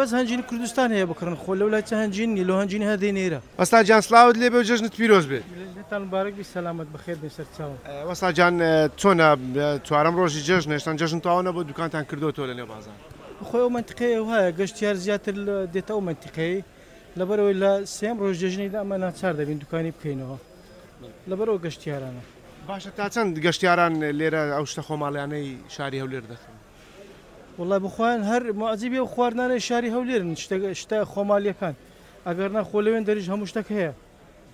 بەس هەنجینی کوردستان هەیە بکڕن خۆ لەولای چ هەنجین نیە لۆ هەنجینی هەر دەی نێرە. وەستا جان سلاوت لێبێ و جەژنت پیرۆز بێت. جەژنتان مبارەک بی سەلامەت بەخێر بن سەرچاوم. وەستا جان چۆنە چوارەم ڕۆژی جەژنە هێشتان جەژن تەواو نەبووە دوکانتان کردۆتەوە لە نێو بازاڕ. بەخۆی ئەو مەنتقەیە وهایە گەشتیار زیاتر دێتە ئەو مەنتیقەی لەبەرئەوەی لە سێیەم ڕۆژ جەژنی لە ئەمە ناچار دەبین دوکانی بکەینەوە لەبەر ئەو گەشتیارانە. باشە تا چەند گەشتیاران لێرە ئەو شتە خۆماڵیانەی شاری هەولێر دەکڕن؟ وەڵای بخوایان هەر معجیبی ئەو خواردنانەی شاری هەولێرن شتە خۆمالیەکان ئەگەرنا خۆ لەوێن دەریش هەموو شتەک هەیە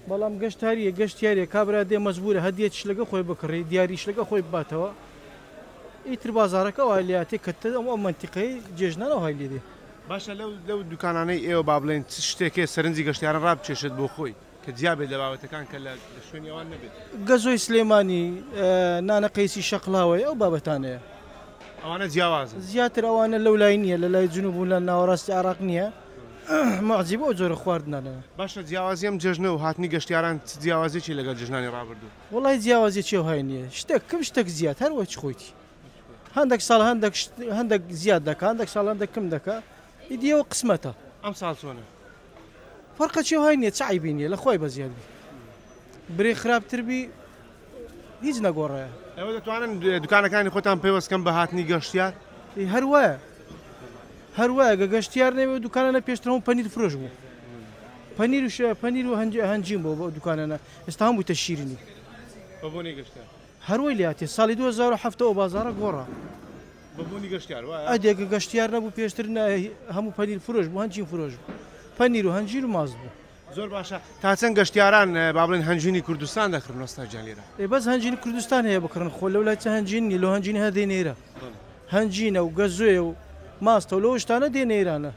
بەڵام گەشتاریە گەشتیارە کابرا دێ مەجبورە هەدیە شلەکە خۆی بکڕی دیاری شلەکە خۆی باتەوە ئیتر بازارەکە وای لاتێ کە تە ئەم ئەم منتیقەی جێژنانەوە های لێدێ باشە لەو لەو دوکانانەی ئێوە با بڵێن چ شتێکێ سەرنجی گەشتیاران ڕابکێشێت بۆ خۆی کە جیا بێت لە بابەتەکان کە لە شوێنی ئەوان نەبێت. گەزۆی سلێمانی، نانە قەیسی شەقڵاوەی ئەو بابەتانەیە. ئەوانە جیاوازن. زیاتر ئەوانە لەو لای نییە، لە لای جنوب و لە ناوەڕاستی عێڕاق نییە. موعجیب ئەو جۆرە خواردنە لە. باشە جیاوازی ئەم جەژنە و هاتنی گەشتیاران چ جیاوازیەکی لەگەڵ جەژنانی ڕابردوو؟ وەڵای جیاوازیەکی ئەوهای نییە. شتەک کم شتەک زیاد هەر وەک خۆیتی. هەندەک ساڵ هەندەک شت هەندەک زیاد دەکا، هەندەک ساڵ هەندەک کم دەکا. ئیدی ئەوە قسمەتە. ئەمساڵ چۆنە؟ فەرقە چێ وای نیە چ عەیبی نیە لە خوای بەزیاد بی برێ خراپ تر بی هیچ نەگۆڕێ. ئێوە دەتوانن دوکانەکانی خۆتان پەیوەست کەن بە هاتنی گەشتیار؟ ئی هەر وایە هەر وایە گە گەشتیار نەبێ دوکانانە پێشتر هەموو پەنیر فرۆش بوو پەنیر و شێ پەنیر و هەنج هەنجین بۆ بۆ دوکانانە ئێستا هەموو بوویتە شیرینی. بەبۆنەی گەشتیار. هەر وەی لاتێ ساڵی دوو هەزار و حەڤدە ئەو بازاڕە گۆڕا بە بوونی گەشتیار وایە؟ ئەدێ گە گەشتیار نەبوو پێشتر نە هی هەموو پەنیر فرۆش بوو هەنجین فرۆش بوو پەنیر و هەنجیر و ماست بوو. زۆر باشە تا چەند گەشتیاران با بڵێن هەنجوینی کوردستان دەکڕن وەستا گیان لێرە؟ ئێ بەس هەنجینی کوردستان هەیە بکڕن خۆ لەو لای چ هەنجین نیە لۆ هەنجینی هەر دێنە ئێرە هەنجینە و گەزۆیە و ماستە و لۆ شتانە دێنە ئێرانە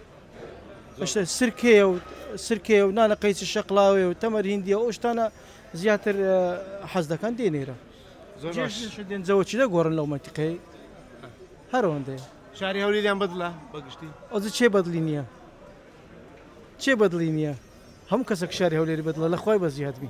ئەشتە سرکەیە و سرکەیە و نانە قەیسی شەقڵاوەیە و تەمەر هیندیە ئەو شتانە زیاتر حەز دەکەن دێنێرە جەوەچیدە گۆڕن لەو مەتیقی هەرەوەندێ شاری هەولیان بەدڵە بەگشتی ئەز چێ بەدلی نییە چێ بەدلی نییە هەم کەسە شاری هەولێری بەدڵە لە خخوای بەزیادبی